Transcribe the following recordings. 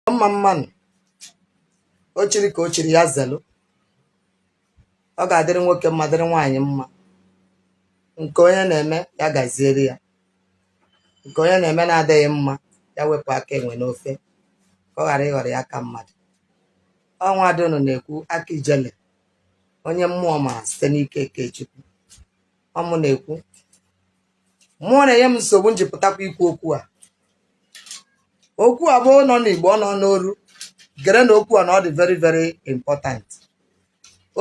mma mma nụ o chiri ka o chiri ya zelụ ọ ga-adịrị nwoke mma dịrị nwaanyị mma nke onye na-eme ya gaziere ya nke onye na-eme na-adịghị mma ya wepụ aka enwe n'ofe ka ọ ghara ịghọrọ ya aka mmadụ ọ nwada ụnụ na-ekwu aka Ijele onye mmụọ ma site n'ike nke Chukwu ọ mụ na-ekwu mmụọ na-enye m nsogbu m ji pụtakwa ikwu okwu a okwu a bụ ọ nọ n'Igbo ọ nọ n'oru gere na okwu a na ọ dị very very important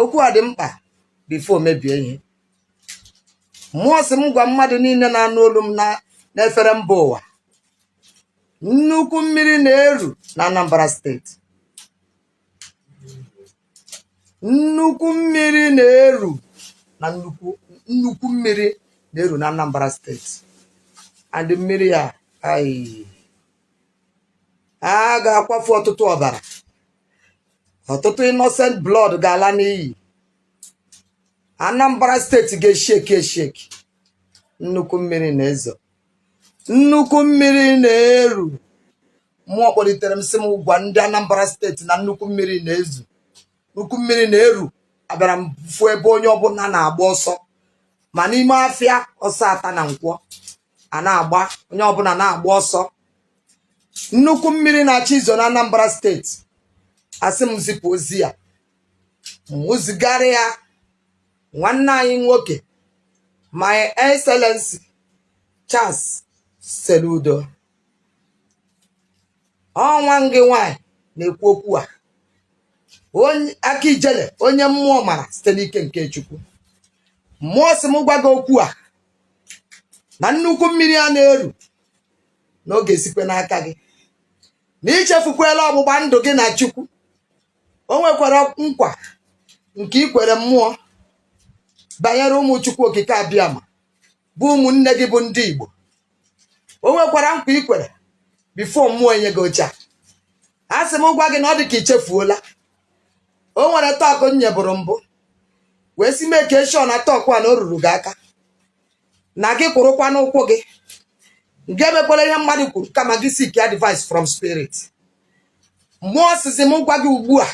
okwu a dị mkpa before mebie ihe mmụọ sị m gwa mmadụ niile na-anụ olu m n'efere mba ụwa nnukwu mmiri na-eru na Anambra steeti nnukwu mmiri na-eru na nnukwu nnukwu mmiri na-eru na Anambra steeti and mmiri a a ga-akwafu ọtụtụ ọbara ọtụtụ innocent blood ga-ala n'iyi Anambra steeti ga-esheki esheki nnukwu mmiri na-ezo nnukwu mmiri na-eru mmụọ kpọlitere m sị m gwa ndị Anambra steeti na nnukwu mmiri na-ezo nnukwu mmiri na-eru abịara m fụ ebe onye ọbụla na-agba ọsọ ma n'ime afịa ọsọ ata na Nkwọ a na-agba onye ọbụla na-agba ọsọ nnukwu mmiri na-achọ izo na Anambra steeti asị m zipụ ozi a mụ zigara ya nwanne anyị nwoke my excellency Charles Soludo ọ nwanne gị nwanyị na-ekwu okwu a onye aka Ijele onye mmụọ mara site n'ike nke Chukwu mmụọ sị m gwa gị okwu a na nnukwu mmiri a na-eru na ọ ga-esikwe n'aka gị na i chefukwela ọgbụgba ndụ gị na Chukwu o nwekwara nkwa nke i kwere mmụọ banyere ụmụ Chukwu Okike Abịama bụ ụmụnne gị bụ ndị Igbo o nwekwara nkwa i kwere before mmụọ enye gị oche a a sị m gwa gị na ọ dị ka i chefuola o nwere talk m nyebụrụ mbụ wee sị make sure na talk a na o ruru gị aka na gị kwụrụkwa n'ụkwụ gị na gị emekwala ihe mmadụ kwuru kama gị seek advice from spirit mmụọ sịzị m gwa gị ugbu a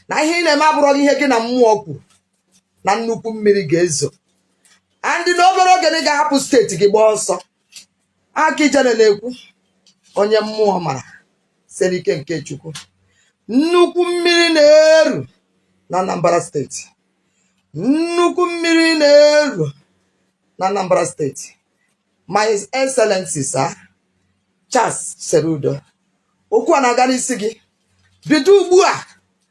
na ihe ị na-eme abụrọ gị ihe gị na mmụọ kwuru na nnukwu mmiri ga-ezo and na obere oge na ị ga-ahapụ steeti gị gbaa ọsọ aka ijele na-ekwu onye mmụọ mara siri ike nke chukwu nnukwu mmiri na-eru na anambra steeti nnukwu mmiri na-eru na anambra steeti my excellency sir charles soludo okwu a na-aga n'isi gị bido ugbu a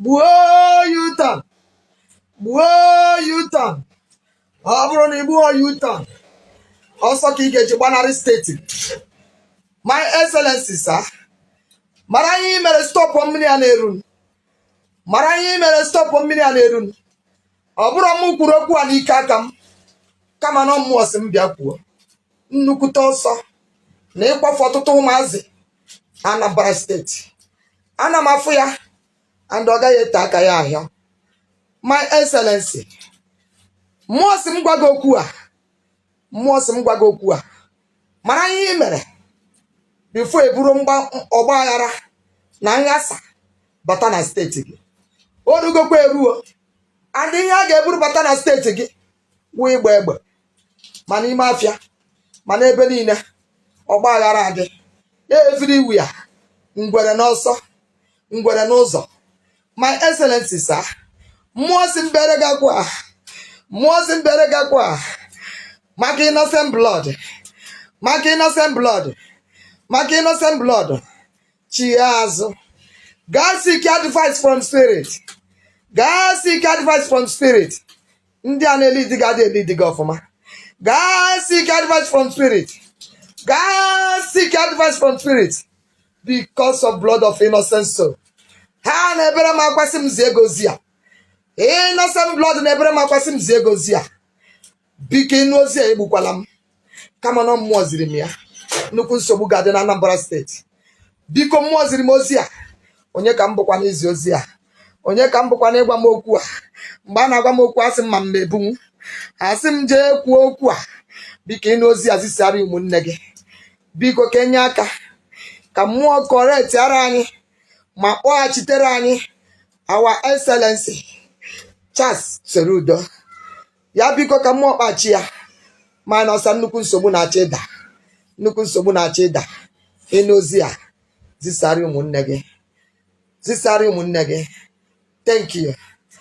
gbuo u-turn gbuo u-turn ọ bụrụ na ị gbuhọ u-turn ọsọ ka ị ga-eji gbanarị steeti my excellency sir mara ihe ị mere stọpụ mmiri a na-erunụ mara ihe ị mere stọpụ mmiri a na-erunụ ọ bụrọ mụ kwuru okwu a n'ike aka m kama na mmụọ sị m bịa kwuo nnukwute ọsọ na ịkwafu ọtụtụ ụmụazị Anambra steeti ana m afụ ya and ọ gaghị ete aka ya ahịa my excellency mmụọ sị m gwa gị okwu a mmụọ sị m gwa gị okwu a mara ihe ị mere before e buru mgba- ọgba aghara na nghasa bata na steeti gị o rugokwa eruo and ihe a ga-eburu bata na steeti gị wụ ịgba egbe ma n'ime afịa ma n'ebe niile ọgba aghara adị everywhere ngwere n'ọsọ ngwere n'ụzọ my excellency sir mmụọ sị m bere gị akwa mmụọ sị m bere gị akwa maka innocent blood maka innocent blood maka innocent blood chie azụ gaa seek advice from spirit gaa seek advice from spirit ndị a na-elidi gị adị elidi gị ọfụma gaa seek advice from spirit gaa seek advice from spirit because of blood of innocent soul ha na-ebere m akwa sị m zie gị ozi a innocent blood na-ebere m akwa sị m zie gị ozi a biko ị nụ ozi a egbukwala m kama na mmụọ ziri m ya nnukwu nsogbu ga-adị na Anambra steeti biko mmụọ ziri m ozi a onye ka m bụkwa n'izi ozi a onye ka m bụkwa na ị gwa m okwu a mgbe a na-agwa m okwu asị m ama m ebunwu a sị m jee kwuo okwu a biko ị nụ ozi a zisara ụmụnne gị biko ka e nye aka ka mmụọ kọrektiara anyị ma kpọghachitere anyị our excellency Charles Soludo ya biko ka mmụọ kpachi ya ma na ọsa nnukwu nsogbu na-achọ ịda nnukwu nsogbu na-achọ ịda ị nụ ozi a zisara ụmụnne gị zisara ụmụnne gị thank you